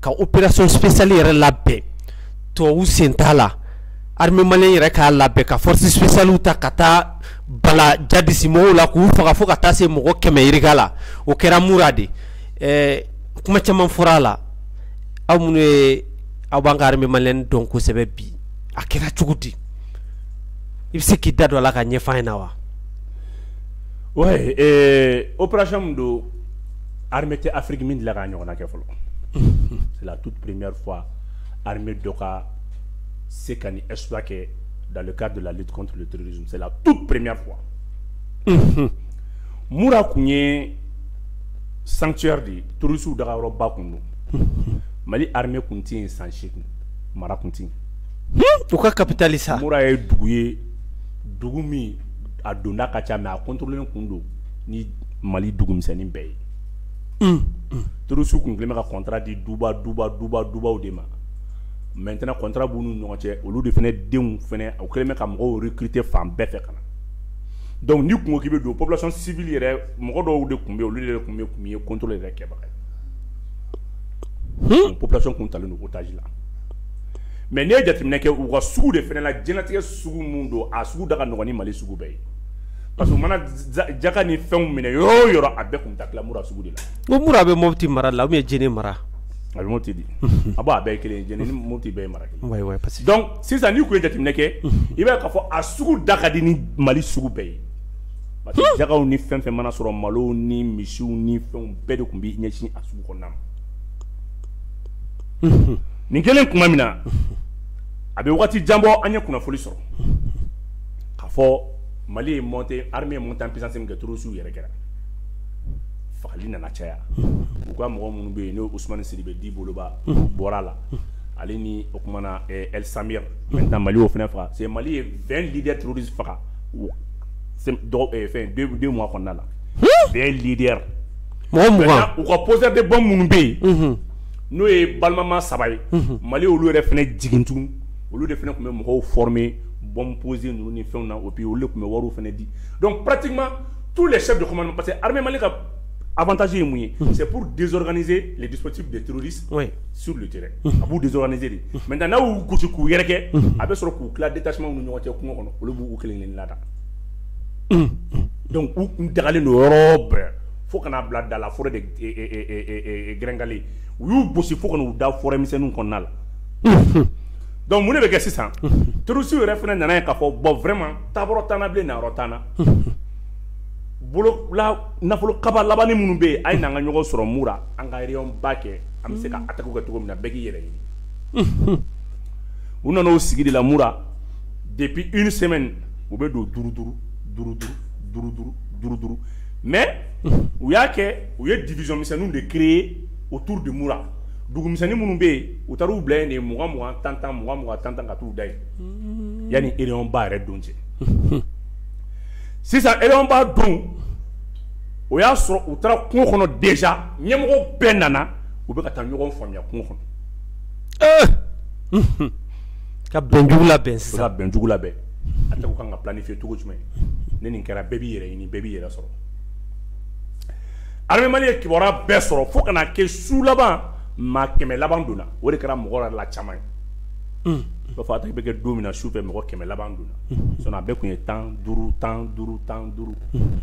ka opération spéciale yɛrɛ labɛn tubabu sen t'a la armée malienne yɛrɛ k'a labɛn ka force spéciale ta ka taa bala jadisi mɔgɔw la k'u faga fo ka taa se mɔgɔ kɛmɛ yirika la o kɛra Mura de kuma caman fɔra a la aw minnu ye aw b'an ka armée malienne dɔn kosɛbɛ bi a kɛra cogo di i bɛ se k'i da don a la k'a ɲɛfɔ an ɲɛna wa opération don hame tɛ afiriki min dilan k'a ɲɔgɔn kɛ fɔlɔ tu pereme fɔ hame dɔ ka se ka ni es kɛ daka dela tu pereme fɔ muru tun ye sancyari de ye tuurusiww daga yɔrɔba kun don mali hame tun tɛ yen san sekun mara tun tɛ u ka kapitali sa mura ye dugu ye dugu min a donda ka ca mɛ a kɔntlen tun don mali dugumisɛnnin bɛɛ ye terroristes tun kɛlen bɛ ka contrat di duba duba duba dubaw de ma maintenant contrat b'u ni ɲɔgɔn cɛ olu de fɛnɛ denw fɛnɛ u kɛlen bɛ ka mɔgɔw recruter fan bɛɛ fɛ ka na donc n'i kun ko k'i bɛ don population civile yɛrɛ mɔgɔ dɔw de kun bɛ olu de tun tun ye contrôle yɛrɛ kɛbaga ye population tun talen don otage la mais n'i ye jateminɛ kɛ u ka sugu de fɛnɛ la diɲɛlatigɛ sugu min don a sugu da ka nɔgɔn ni mali sugu bɛɛ ye Parce que mana jaka ni fɛnw minɛ yɔrɔ o yɔrɔ a bɛɛ tun taa tila Mura sugu de la ko Mura bɛ Mopti mara la ou bien Djenné mara a bɛ Mopti di a b'a bɛɛ ye kelen ye Djenné ni Mopti bɛɛ ye mara sisan n'i tun ye jateminɛ kɛ i b'a ye k'a fɔ a sugu da ka di ni mali sugu bɛɛ ye parce que jakaw ni fɛn fɛn mana sɔrɔ malo ni misiw ni fɛn bɛɛ de tun bɛ ɲɛsin a sugu kɔnɔna ma nin kɛlen tuma min na a bɛ waati jan bɔ an ye kunnafoni sɔrɔ k'a fɔ mali ye montée armée montée en puissance min kɛ terroristes yɛrɛ kɛra fagali nana caya u ka mɔgɔ minnu bɛ yen n'o Ousmane Sidibé dit boloba Bobala ale ni o kumana eh, el samir maintenant mali y'o fana faga c'est mali ye 20 leader terroriste faga o- sem- dɔgɔ- eh, fɛn deux deux mois kɔnɔna la 20 leader mɔgɔ mugan Maintenant, u ka poseurs de bombe minnu bɛ yen n'o ye balimama saba ye mali olu yɛrɛ fana jigin tugun olu de fana tun bɛ mɔgɔw former bɔn pose ninnu ni fɛnw na o bi olu tun bɛ wari fana di dɔnku pati ma tu la sɛ dɔrɔn parce que hama ka abataje ye mun ye sɛ pur desoranie le dipti de tuururi su de tɛ a b'u deoraine de mɛ taa n'u gosi k'u yɛrɛ kɛ a bɛ sɔrɔ k'u tila de tasuma ni ɲɔgɔn cɛ kungo kɔnɔ olu b'u kelen ni lada dɔnku u kun dagalen don yɔrɔ bɛɛ fo kana'a bila da la fɔlɔ de gkale u y'u gosi fo kɔnɔ u da fɔmisɛn kɔnɔna la Donc mun de bɛ kɛ sisan terroristes yɛrɛ fana nan'a ye k'a fɔ bon vraiment taabolo t'an na bilen nayɔrɔ t'an na nafolo kaba labanani minnu bɛ yen a ye n'an ka ɲɔgɔn sɔrɔ Mura an ka réunion ba kɛ an bɛ se ka attaque kɛ cogo min na bɛɛ k'i yɛrɛ ɲini u nana o sigi de la Mura depuis une semaine u bɛ don duuru duuru duuru duuru duuru duuru duuru mais u y'a kɛ u ye division misɛnninw de créer autour de Mura dugumisɛnnin minnu bɛ yen u taar'u bila yen de mugan mugan tan tan mugan mugan tan tan ka t'u da yen mm-hmm. yanni réunion ba yɛrɛ don cɛ sisan réunion ba don o y'a sɔrɔ u taara kungo kɔnɔ déjà ɲɛmɔgɔ bɛɛ nana u bɛ ka taa ɲɔgɔn faamuya kungo kɔnɔ eh! mm-hmm. ka bɛnjugu labɛn sisan ka bɛnjugu labɛn attaque ka kan ka planifier cogo jumɛn ni nin kɛra bɛɛ b'i yɛrɛ ɲini bɛɛ b'i yɛrɛ sɔrɔ armée Mali ye kibaruya bɛɛ sɔrɔ fo ka na kɛ su laban maa kɛmɛ laban donna o de kɛra mɔgɔ yɛrɛ la caman ye. Un! I b'a fɔ attaque bɛ kɛ don min na su fɛ mɔgɔ kɛmɛ laban donna. Unhun! Sinon a bɛɛ tun ye tan duuru tan duuru tan duuru. Unhun!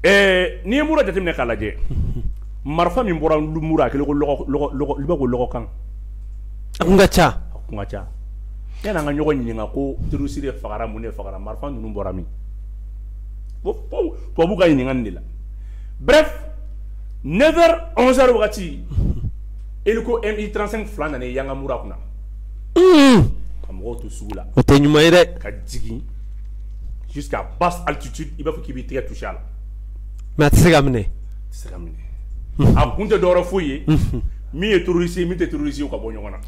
Ɛɛ n'i ye Mura jateminɛ k'a lajɛ. Unhun! Marifa min bɔra Mura a kɛlen ko lɔgɔ lɔgɔ lɔgɔ i b'a fɔ ko lɔgɔkan. A tun ka ca. A tun ka ca. Yanni an ka ɲɔgɔn ɲininka ko terroriste de fagara mun de fagara marifa ninnu bɔra min? tubabu ka ɲininka nin de la bref 9 heures 11 heures wagati hélico MI35 fila nana i yanga Mura kunna ka mɔgɔw to sugu la o tɛ ɲuman ye dɛ ka jigin jusqu'à basse altitude i b'a fɔ k'i b'i tɛgɛ toucher a la mais a tɛ se ka minɛ a tɛ se ka minɛ a kun tɛ dɔwɛrɛ foyi ye min ye terroriste ye min tɛ terroriste ye u ka bɔ ɲɔgɔn na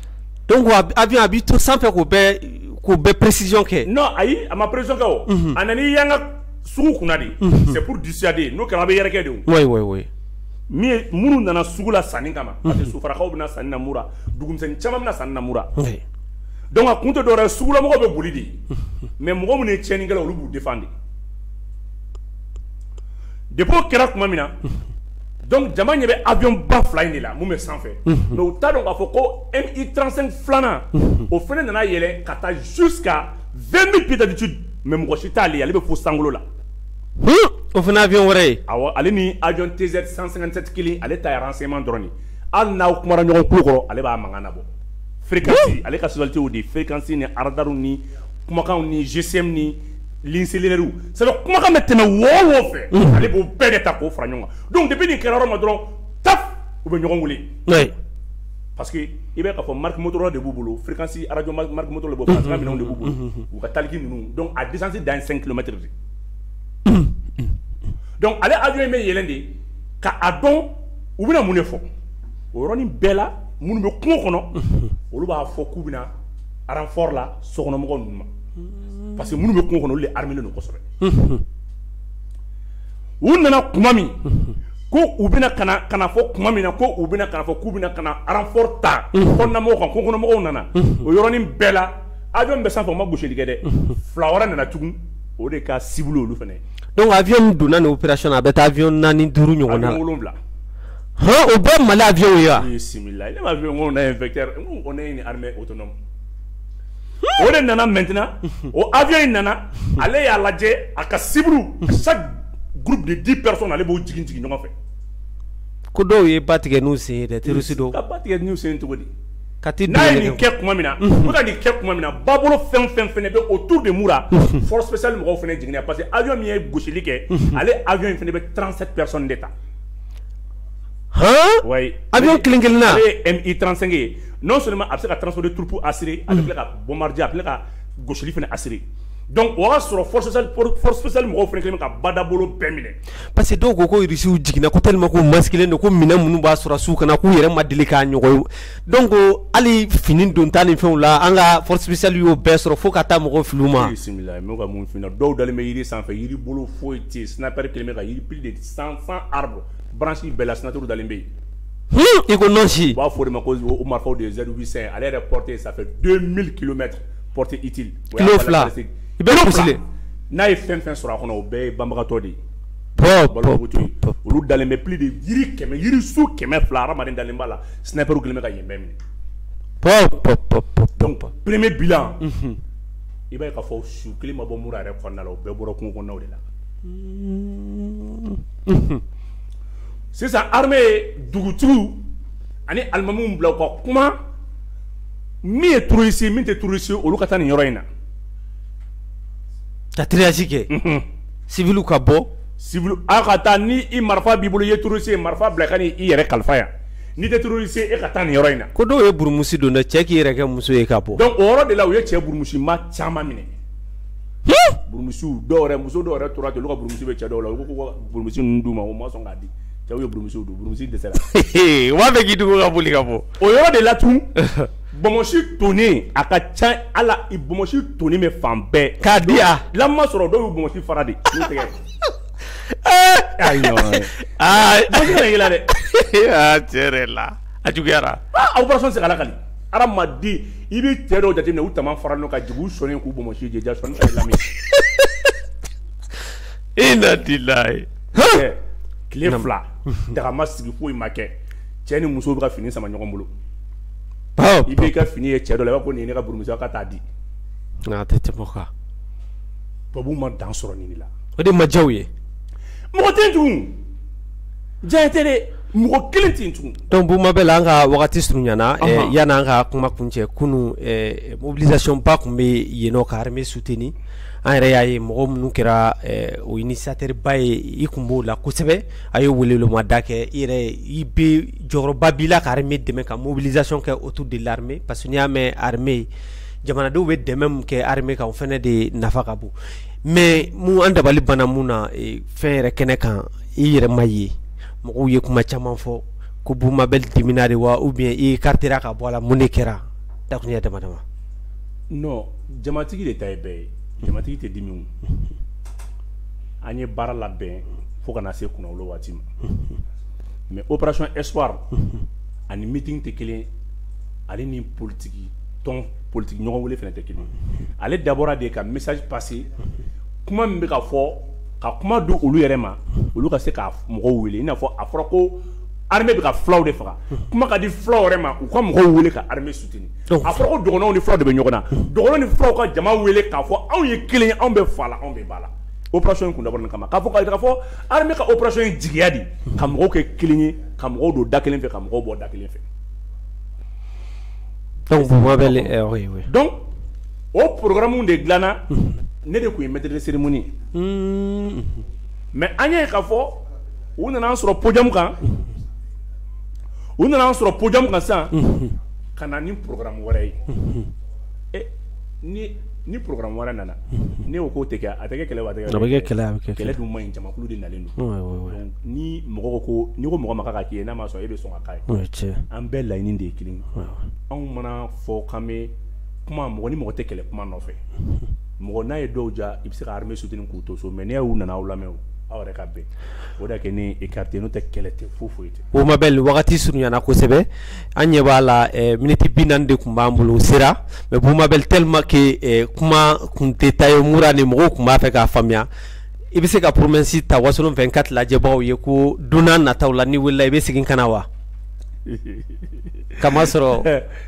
Donc avion a bɛ to sanfɛ k'o bɛɛ précision kɛ non ayi a ma précision kɛ o a nana i yanga sugu kunna de c'est pour dissuader n'o kɛra a bɛ yɛrɛkɛ de min minnu nana sugu la sanni kama parce que Sofarakaw bɛ na sanni na Mura dugumisɛnnin caman bɛ na sanni na Mura donc a kun tɛ dɔwɛrɛ ye sugulamɔgɔw bɛ boli de mais mɔgɔ minnu ye cɛnnikɛla olu b'u défendre depuis o kɛra tuma min na dɔnkuc jama ɲɛ bɛ abuɔn ba fila in de la min bɛ sanfɛ mɛ u ta dɔn k'a fɔ ko e i tsen filanan o fana nana yɛlɛ ka taa su ka fɛn bɛ ptajutu mɛ mɔgɔ si t'ale ale bɛ fo san la o fana abuɔn wɛrɛ ye ale ni ajɔn tɛ z san sɛgɛnsɛti kelen ale ta yɛrɛ seman dɔrɔn hali n'aw kuma ɲɔgɔn ku kɔrɔ ale b'a mankan na bɔ fsi ale ka soti de fɛkansi ni araraw ni kumakan ni zsɛ ni ligne cellulairew c'est à dire kumakan bɛ tɛmɛ wo o wo fɛ unhun ale b'o bɛɛ de ta k'o fara ɲɔgɔn kan donc depuis nin kɛra yɔrɔ ma dɔrɔn taf u bɛ ɲɔgɔn wele oui parce que i bɛ k'a fɔ marque Motorola de b'u bolo fréquence radio marque marque Motorola de b'u bolo unhun, minɛnw de b'u bolo unhun, unhun. u ka taliki ninnu donc a distance dan ye 5 kilomètres de donc ale avion in bɛ yɛlɛn de ka a dɔn u bɛna mun de fɔ o yɔrɔnin bɛɛ la minnu bɛ kungo kɔnɔ olu b'a fɔ k'u bɛna renfort la sokɔnɔmɔgɔw ninnu ma parce que minnu bɛ kungo kɔnɔ olu de armélen don kosɛbɛ, unhun, u nana tuma min ko u bɛna ka na ka na fɔ tuma min na ko u bɛna ka na fɔ k'u bɛna ka na renfort ta kɔnɔnamɔgɔw kan kungokɔnɔmɔgɔw nana o yɔrɔnin bɛɛ la avion min bɛ sanfɛ o ma gosili kɛ dɛ fila wɛrɛ nana tugun o de ka cible olu fana ye, donc avion min donna nin operation na a bɛ taa avion naani duuru ɲɔgɔnna la, avion wolonwula, han, o bɛɛ ye Mali avion ye wa? Bisimilayi, ne m'a fɔ i ye ko on a un vecteur n ko on est une armée autonome o de nana maintenant o avion in nana ale y'a lajɛ a ka cible chaque groupe de 10 personnes ale b'o jigin jigin ɲɔgɔn fɛ ko dɔw ye ba tigɛ n'u sen dɛ terroriste dun ka ba tigɛ n'u sen cogo di ka n'a ye nin kɛ tuma min na u ka nin kɛ tuma min na babolo fɛn fɛn fana bɛ autour de Mura force spéciale mɔgɔw fana jiginna parce que avion min ye gosili kɛ ale avion in fana bɛ 37 personnes de ta ouais avion kelen kelen ye MI35 ye non seulement a bɛ se ka transport de troupes assurer a bɛ tila ka bombarder a bɛ tila ka gosili fana assurer donc o y'a sɔrɔ force spéciale mɔgɔw fana kɛlen bɛ ka badabolo bɛɛ minɛ parce que dɔw ko ko Irisiw jiginna ko tellement ko masquelen don ko minɛn minnu b'an sɔrɔdasiw kan na k'u yɛrɛ ma deli k'a ɲɔgɔn ye donc hali fini donta ni fɛnw la an ka force spéciale y'o bɛɛ sɔrɔ fo ka taa mɔgɔw fili u ma bisimila ka mun dɔw dalen bɛ jiri sanfɛ jiri bolo foyi tɛ sniper kɛlen bɛ ka jiri plus de cent arbres branches bɛɛ la sniper dalen bɛ yen i ko nɔnsi u b'a fɔ o de ma ko o marifaw de ye Z800 ale yɛrɛ portée ça fait 2000 kilomètres portée utile kilo fila i bɛ kusile n'a ye fɛn fɛn sɔrɔ a kɔnɔ o bɛɛ ye banbagatɔ de ye olu dalen bɛ plus de yiri kɛmɛ yirisun kɛmɛ fila hadamaden dalen b'a la snipers kɛlen bɛ ka yen bɛɛ minɛ pɔp pɔp pɔp pɔp donc premier bilan unhun i b'a ye k'a fɔ su kelen ma bɔ Mura yɛrɛ kɔnɔna la o bɛɛ bɔra kungo kɔnɔnaw de la unhun sisan armée ye dugutigiw ani alimamiw bila u ka kuma min ye terroriste min tɛ terroriste olu ka taa nin yɔrɔ in na ka triage kɛ civilw ka bɔ civil aw ka taa ni i marifa b'i bolo i ye terroriste ye marifa bila ka na i yɛrɛ kalifa yan n'i tɛ terroriste ye e ka taa nin yɔrɔ in na ko dɔw ye burumusi don dɛ cɛ k'i yɛrɛ kɛ muso ye ka bɔ donc o yɔrɔ de la u ye cɛ burumusima caman minɛ Burumusi dɔw yɛrɛ muso dɔw yɛrɛ tora ten olu ka burumusi bɛ cɛ dɔw la u ko burumusi ninnu d'u ma o ma sɔn k'a di cɛw ye burumusiw don burumusi dɛsɛra u b'a fɛ k'i dogo ka boli ka bɔ o yɔrɔ de la tun bonmosi tonnen a ka ca ala i bonmosi tonnen bɛ fan bɛɛ k'a di yan lamu ma sɔrɔ dɔw y'u bonmosi fara de n'u tɛgɛ ayi dɛ tiɲɛ la a juguyara opération segin ala ka Adamaden i bɛ cɛ dɔw jateminɛ u tama faralen ka jigin u sɔnna k'u bonmosi ja e na tile fila daga ma sigi foyi ma kɛ cɛ ni muso bɛ ka fini sama ɲɔgɔn bolo i b'i ka fini ye cɛ dɔ la ko nin ye ne ka burumusi ka taa di a tɛ tɛmɛ o kan tubabuw ma dan sɔrɔ nin de la o de ma diya u ye mɔgɔ tɛ tugun diɲɛ tɛ mɔgɔ kelen tɛ tugun donc Boubou Mabel an ka wagati surunyana ɔhɔn yani an ka kuma kuncɛ kunun ɛɛ mobilisation ba tun bɛ yen nɔ ka armée soutenir an yɛrɛ y'a ye mɔgɔ minnu kɛra ɛɛ o initiateur ba ye i kun b'o la kosɛbɛ a ye weleweleda kɛ i yɛrɛ i bɛ jɔyɔrɔba b'i la ka armée dɛmɛ ka mobilisation kɛ autour de l'armée parce que n'i y'a mɛn armée jamanadenw bɛ dɛmɛ min kɛ armée kan o fana de nafa ka bon mais mun an dabali banna mun na ee fɛn yɛrɛ kɛnɛ kan i yɛrɛ ma ye mɔgɔw ye kuma caman fɔ ko boubou mabel dimina de wa ou bien i écartéra ka bɔ a la mun de kɛra dakuruɲɛ dama dama jamatigi de ta ye bɛɛ ye jamatigi tɛ dimi an ye baara labɛn fo ka na se kunnawolo waati ma mais opération espoir ani meeting tɛ kelen ale ni politigi tɔn politigi ɲɔgɔn wele fana tɛ kelen ale dabɔra de ka message passer kuma min bɛ ka fɔ ka kuma di olu yɛrɛ ma olu ka se ka mɔgɔw wele i n'a fɔ a fɔra ko armée bɛ ka fulaw de faga kuma ka di fulaw yɛrɛ ma u ka mɔgɔw wele ka armée soutenir a fɔra ko dɔgɔnɔw ni fulaw de bɛ ɲɔgɔn na dɔgɔnɔ ni fulaw ka jama wele k'a fɔ anw ye kelen ye anw bɛ fa la anw bɛ ba la opération in kun dabɔra nin kama k'a fɔ ka ka fɔ armée ka opération ye jigiya di ka mɔgɔw kɛ kelen ye ka mɔgɔw don da kelen fɛ ka mɔgɔw bɔ da kelen fɛ o programme de dilanna ne de tun ye maître de cérémonie ye mais an y'a ye k'a fɔ u nana an sɔrɔ podium kan u nana an sɔrɔ podium kan san ka na ni programme wɛrɛ ye ɛ ni ni programme wɛrɛ nana ne ko k'o tɛ a tɛ kɛ kɛlɛ kɛlɛ kɛlɛ man ɲi jamakulu de nalen don ni mɔgɔ ko n'i ko mɔgɔ ma k'a k'i ye n'a ma sɔn e bɛ sɔn k'a ye an bɛɛ laɲini de ye kelen anw man'a fɔ k'an bɛ kuma mɔgɔ ni mɔgɔ tɛ kɛlɛ kuma nɔfɛ mɔgɔ n'a ye dɔw ja i bɛ se ka armée soutenir k'u to so mais n'i y'u nana aw lamɛn aw yɛrɛ ka bɛn o de kɛ ni écarté n'o tɛ kɛlɛ tɛ foyi foyi tɛ boubou mabel wagati surunyana kosɛbɛ an ɲɛ b'a la miniti bi naani de tun b'an bolo sera mais boubou mabel tellement que kuma kun tɛ ta ye moura ni mɔgɔw tun b'a fɛ k'a faamuya i bɛ se ka poromesi ta wasolon vingt-quatre lajɛbagaw ye ko don nataw la n'i welela i bɛ segin ka na wa kamasɔrɔ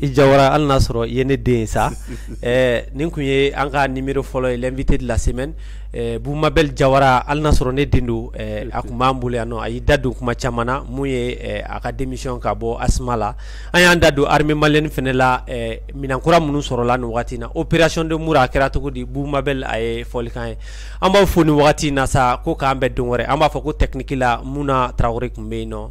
i jawara hali n'a sɔrɔ i ye ne den sa nin tun ye an ka numéro fɔlɔ ye l'invité de la semaine boubou mabel jawara hali n'a sɔrɔ ne den don a tun b'an bolo yan a y'i da don kuma caman na mun ye a ka démission ka bɔ asma la an y'an da don armée malienne fana la minɛn kura minnu sɔrɔla nin waati na opération de moura a kɛra cogo di boubou mabel a ye fɔlikan ye an b'aw fo nin wagati na sa ko k'an bɛn don wɛrɛ an b'a fɔ ko technique la muna tarawele tun bɛ yen nɔ